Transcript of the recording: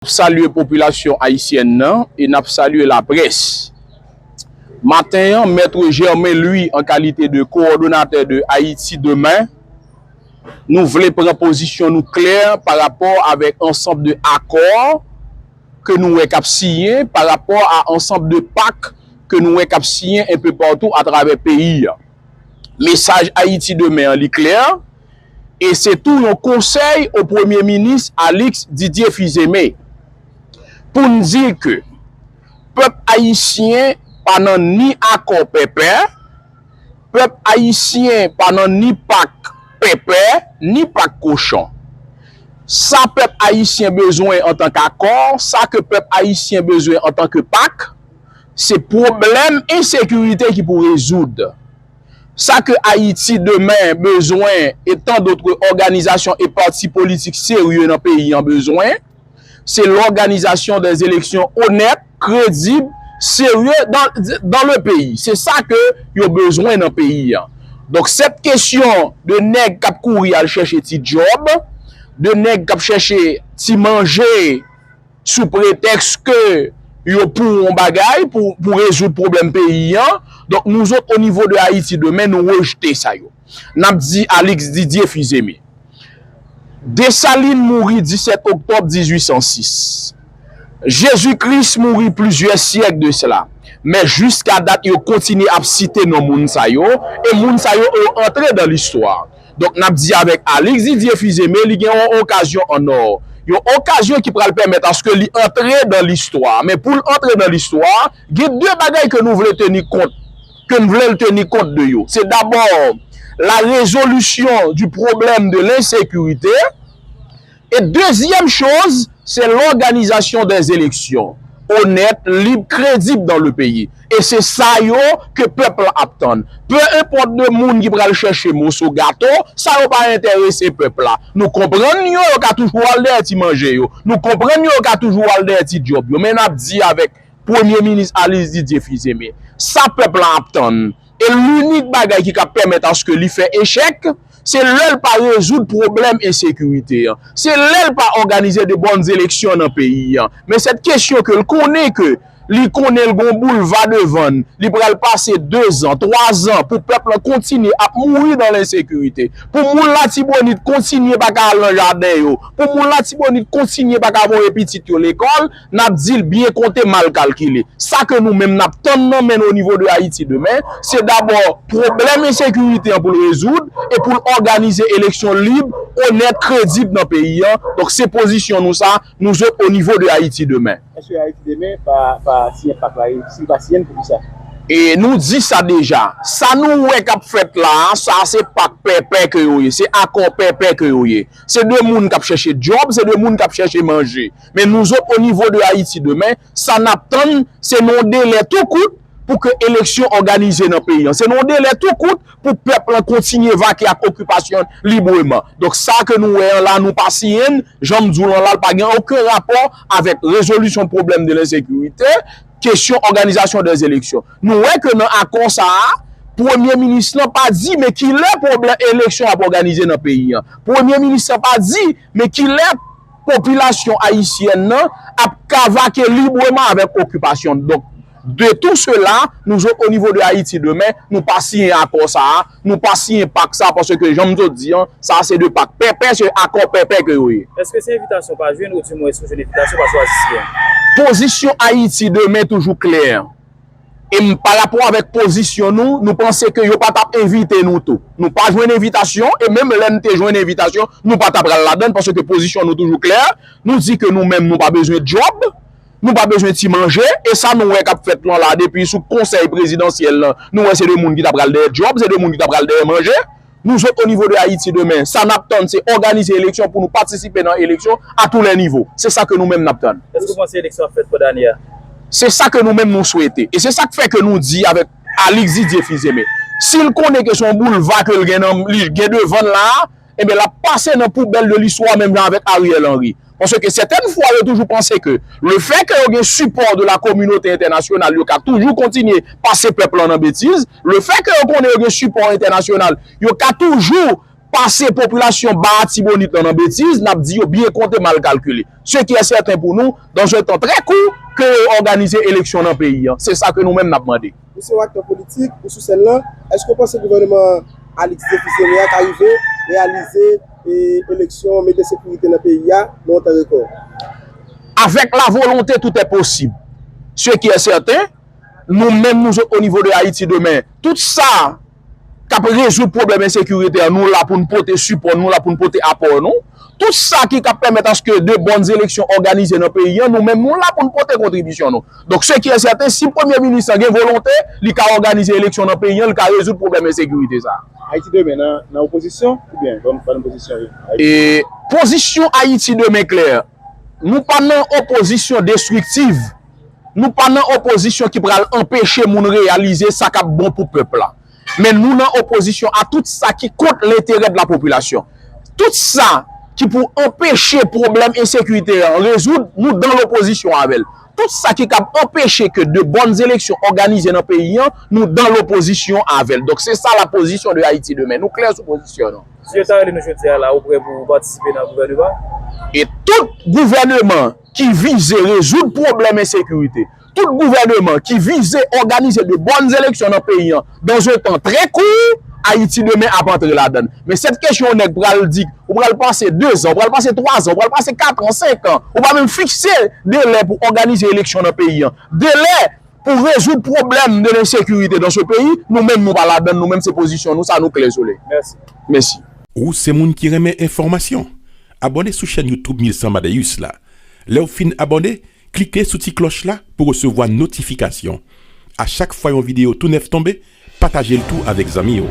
Nap salye popilasyon ayisyèn nan e nap salye laprès. Maten an, Maitre Germain Louis an kalite de Coordonnateur de Haïti Demain, nou vle pran pozisyon nou klè pa rapò avèk ansanb de akò ke nou wè kap siyen, pa rapò a ansanb de pak ke nou wè kap siyen enpe patou atravè peyi a. Mesaj Haïti Demain an li klè. e se tou yon konsèy o premye minis Alix Didier Fils-Aimé pou n di ke pèp ayisyen pa nan ni akò pèpè, pèp ayisyen pa nan ni pak pèpè, ni pak kochon. Sa pèp ayisyen bezwen antan k akò, sa ke pèp ayisyen bezwen antan ke pak, se pwoblèm ensekirite ki pou rezoud. Sa ke Ayiti demen bezwen e tan dotre òganizasyon e pati politik serye nan peyi an bezwen, se lòganizasyon de eleksyon onèt, kredib, serye dan le peyi. Se sa ke yo bezwen nan peyi an. Donk sèt kesyon de nèg k ap kouri al chèche ti djòb, de nèg k ap chèche ti manje, sou pretèks ke yo pou yon bagay, pou rezoud pwoblèm peyi an, donk nou zot o nivo de Ayiti demen nou rejte sa yo. N ap di Alix Didier Fils-Aimé. Dessalines mouri 17 oktòb 1806. Jezi Kris mouri plizyè syèk de sela. Men jiska dat yo kontinye ap site non moun sa yo, e moun sa yo yo antre dan listwa. Donk nap di avèk Alix Didier Fils-Aimé li gen yon okazyon an or. Yon okazyon ki pral pèmèt aske li antre dan listwa. Men poul antre dan listwa, gen 2 bagay ke nou vle teni kont, ke n vlel teni kont de yo. Se dabor la rezolisyon di pwoblèm de lensekirite. E dezyèm choz, se lòganizasyon dè eleksyon onèt, lib, kredib dan le peyi. E se sa yo ke pèp la ap tann. Pe enpòt de moun ki pral chèche moso gato, sa yo pa enterese pèp la. Nou konprann yo, yo ka toujou al dèyè ti manje yo. Nou konprann yo, yo ka toujou al dèyè ti dyòb yo. Men n ap di avèk Premye Minis Alis Didye Fizeme, sa pèp la ap tann, e linik bagay ki ka pèmèt aske li fè echèk, se lè l pa rezoud pwoblèm ensekirite an, se lè l pa òganize de bòn eleksyon nan peyi an. Men sèt kesyon ke l konnen ke li konnen l gon boulva devan l, li pral pase dezan, twazan pou pèp lan kontinye ap mouri dan lensekirite, pou moun Latibonit kontinye pa ka al nan jaden yo, pou moun Latibonit kontinye pa ka voye pitit yo lekòl, N ap di l byen konte, mal kalkile. Sa ke nou menm n ap tann nan men n o nivo de Ayiti demen, se dabò pwoblèm ensekirite an pou l rezoud e pou l òganize eleksyon lib, onèt, kredib nan peyi an. Donk se pozisyon nou sa, nou zot o nivo de Ayiti demen. Eske Ayiti demen pa siyen pak la? E si l pa siyen l, poukisa? E nou di sa deja. Sa nou wè k ap fèt la a, sa a se pak pèpè ke yo ye, se akò pèpè ke yo ye. Se de moun k ap chèche djòb, se de moun k ap chèche manje. Men nouzot o nivo de Ayiti demen, sa n ap tann, se nan yon delè tou kout pou ke eleksyon òganize nan peyi an. Se nan yon delè tou kout pou pèp lan kontinye vake ak okipasyon l libreman. Donk sa ke nou wè an la, nou pa siyen l, jan m di w l an la, l pa gen oken rapò avèk rezolisyon pwoblèm de lensekirite, kesyon òganizasyon de eleksyon. Nou wè ke nan akò sa a, Premye Minis lan pa di men kilè pwoblè eleksyon ap òganize nan peyi an. Premye Minis lan pa di Men kilè popilasyon ayisyèn nan ap kavake libreman avèk okipasyon l. Donk, de tou sela, nou jwe o nivo de Ayiti demen, nou pa siyen akò sa a, nou pa siyen pak sa a paske jan m sot di an, sa a se de pak pèpè, se akò pèpè ke yo ye. Eske se envitasyon w pa jwenn ou dimwens ou jwenn envitasyon paske w a siyen? Pozisyon Ayiti demen toujou klè. E m parapò avèk pozisyon nou, nou panse ke yo pa t ap envite nou tou. Nou pa jwenn envitasyon, e menm lè n te jwenn envitasyon, nou pa t a pral ladan l, paske pozisyon nou toujou klè, nou di ke nou menm nou pa bezwen djòb, nou pa bezwen ti manje, e sa nou wè k ap fèt lan la depi sou konsèy prezidansyèl lan, nou wè se de moun ki ta pral dèyè djòb, se de moun ki ta pral dèyè manje. Nou sot o nivo de Ayiti demen, sa nap tann se òganize eleksyon pou nou patisipe nan eleksyon a tou lè nivo. Se sa ke nou menm nap tann. Èske ou panse eleksyon ap fèt pandan ane a? Se sa ke nou menm nou swete. E se sak fè ke nou di avèk Alix Didier Fils-Aimé, si l konnen ke se yon boulva ke l gen nan, li gen devan l la a, enben lap pase nan poubèl de listwa menm jan avèk Ariel Henry. Paske ke sètèn fwa yo toujou panse ke le fè ke yo gen sipò de la kominote entènasyonal yo ka toujou kontinye pase pèp lan nan betiz, le fè ke yo konnen yo gen sipò entènasyonal yo ka toujou pase popilasyon Ba Atibonit lan nan betiz, nap di yo byen konte mal kalkile. Se ki è sèten pou nou, dans un tan trè kou, ke yo òganize eleksyon nan peyi an. Se sa ke nou menm nap mande. Ou se yon aktè politik, ou sou sèn lan, èske ou panse gouvèneman Alix Défi Séré a ka rive reyalize eleksyon, mete sekirite nan peyi a nan yon tan rekò? Avèk la volonte tout è posib. Se ki è sèten, nou menm nou zot onivo de Ayiti demen, tout sa. kap rezoud pwoblèm ensekirite an, nou la pou nou pote sipò nou, nou la pou nou pote apò nou. Tout sa ki kap pèmèt aske de bòn eleksyon òganize nan peyi an, nou menm nou la pou nou pote kontribisyon nou. Donk se ki e sèten, si premye minis lan gen volonte, li ka òganize eleksyon nan peyi an, li ka rezoud pwoblèm ensekirite sa a. Ayiti demen nan opozisyon oubyen ban nou pozisyon yo? Pozisyon Ayiti demen klè, nou pa nan opozisyon destriktiv. Nou pa nan opozisyon ki pral anpeche moun reyalize sa kap bon pou pèp la. Men nou nan opozisyon a tout sa ki kont lenterè de la popilasyon. Tout sa ki pou anpeche pwoblèm ensekirite an rezoud, nou dan lopozisyon avè l. Tout sa ki kab anpeche ke de bòn eleksyon òganize nan peyi an, nou dan lopozisyon avè l. Donk se sa la pozisyon de Ayiti demen. Nou klè sou pozisyon nou. Si yo ta rele nou jodi a la ou prè pou patisipe nan gouvèneman? E tout gouvèneman ki vize rezoud pwoblèm ensekirite, tout gouvèneman ki vize òganize de bòn eleksyon nan peyi an dan zon tan trè kou, Ayiti demen ap antre ladan l. Men sèt kesyon yon nèg pral di, ou pral pase dezan, ou pral pase twazan, ou pral pase katran, senkan, ou pa menm fikse delè pou òganize eleksyon nan peyi an, delè pou rezoud pwoblèm de lensekirite dan se peyi, nou menm nou pa ladan l, nou menm se pozisyon nou sa nou klè sou li. Mèsi. Ou se moun ki renmen enfòmasyon? Abòne sou chèn YouTube 1100 Madeus la. Lè w fin abòne, klike sou ti klòch la pou resevwa notifikasyon. A chak fwa yon videyo tou nèf tonbe, pataje l tou avèk zanmi w.